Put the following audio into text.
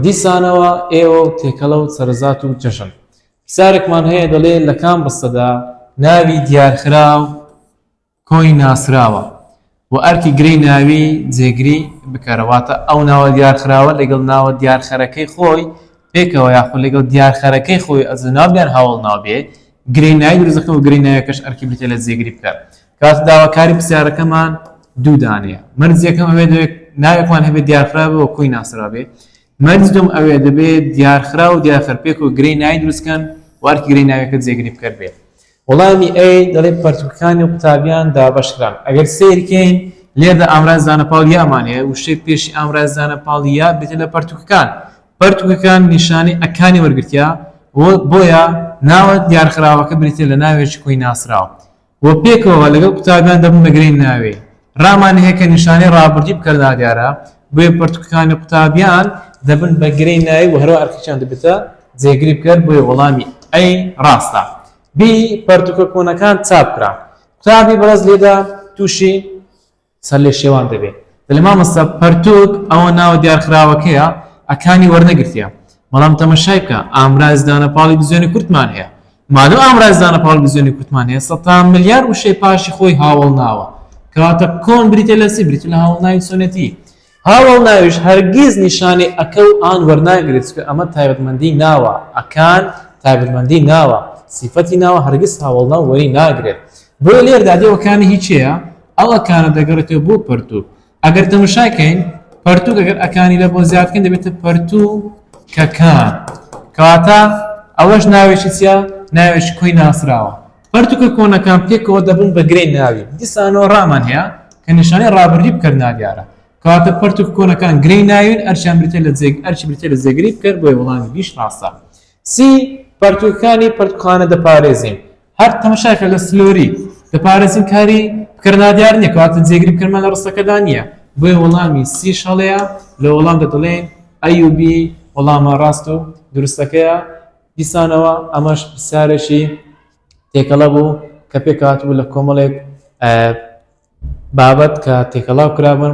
دیسانەوە ئێوە و تێکەڵە و سەرزات و جەژن. پرسیارێکمان هەیە دەڵێ لە کام ڕستەدا ناوی دیارخراو کۆی ناسراوە و ئەرکی گرەی ناوی جێگری بکەرە، واتە ئەو ناوە دیارخراوە لەگەڵ ناوە دیارخەرەکەی خۆی پێکەوە یاخود لەگەڵ دیارخەرەکەی خۆی ئەزناو بیان هاوەڵناو بێ، گرەی ناوی دروست دەکەن و گرەی ناویەکەش ئەرکی بریتیە لە جێگری بکەر. کات داواکاری پرسیارەکەمان دوو دانەیە مەرج یەکەم ئەوێ دەوێت ناوێکمان هەبێت دیارخراوەوە کۆی ناسرابێ مەرج دوم ئەوێ دەبێت دیارخرا و دیارخەرپێک و گرەی نای دروستکەن وارکی گرەی ناوێکە جێگری بکەر بێت وەڵامی ئەی دەڵێ پەرتوکەکانی و قوتابیان دابەشکران ئەگەر سیرکەین لێردا ئامراز زانە پاڵ یامان هەیە وشەی پێشی ئامراز زانە پاڵ یا بێتە لە پەرتوکەکان پەرتوکەکان نیشانەی ئەکانی وەرگتیا بۆیە ناوە دیارخراوەکە بریتە لە ناوێکی کۆی ناسراوە و پێکەوە لەگەڵ قوتابیان دەبنە گرێی ناوێی ڕامان هەیە کە نیشانەی ڕابردووی بکەر نادیارە، بۆیە پەرتووکەکانی قوتابیان دەبن بە گرێی ناوێی و هەروا ئەرکەکیان دەبێتە جێگری بکەر، بۆیە وەڵامی، A، ڕاستە. B، پەرتووکە کۆنەکان چاپ کران. قوتابی بەڕێز لێدا تووشی. سەر لێ شێوان دەبێ. دەلێ مامۆستا پەرتوک ئەوە ناوە دیارخراوەکەیە ئەکانی وەرنەگرتیە بەڵام تەمەشای بکە ئامراز دانە پاڵی بزوێنی کورتمان هەیە مادەم ئامراز دانە پاڵی بزوێنی کورتمان هەیە سەتان ملیار وشەی پاشی خۆی هاوەڵناوە کەواتە کۆن بریتیە لە چی بریتیە لە هاوەڵناوی چۆنێتی هاوەڵ ناویش هەرگیز نیشانی ەکە و ان وەرناگرێت چونکە ئەمە تایبەتمەندی ناوە، ەکان تایبەتمەندی ناوە، سیفەتی ناوە هەرگیز هاوەڵناو وەری ناگرێت. بۆیە لێردا دێ وەکانی هی کێیە؟ ئەو ەکانە دەگەڕێتەوە بۆ پەرتووک. ئەگەر تەمەشای کەین پەرتووک ئەگەر ەکانی لە بۆ زیاد بکەین دەبێتە پەرتووکەکان. کەواتە ئەوەش ناوێکی چیە؟ ناوێکی کۆی ناسراوە. پەرتوکە کۆنەکان پێکەوە دەبن بە گرێی ناوی، دیسانەوە ڕامان هەیە کە نیشانەی ڕابردی بکەر نادیارە. کەواتە پەرتوکە کۆنەکان گرێی ناوین، ئەرکیان بریتیە لە جێ ئەرکی بریتیە لە جێگری بکەر، بۆیە وەڵامی بیش ڕاستە. سی، پەرتوکەکانی پەرتوکخانە دەپارێزین. هەر تەمەشاکە لە سلۆری، دەپارێزین کاری بکەر نادیار نیە، کەواتە جێگری بکەرمان لە ڕستەکەدا نیە، بۆیە وەڵامی سیش هەڵەیە، لە وەڵامدا دەڵێین، ئەی و بی، وەڵامە ڕاست و دروستەکەیە. دیسانەوە ئەمەش پرسیارێکی تێکەڵە بوو کە پێکهاتبوو لە کۆمەڵێک بابەت کە تێکەڵاو کرابن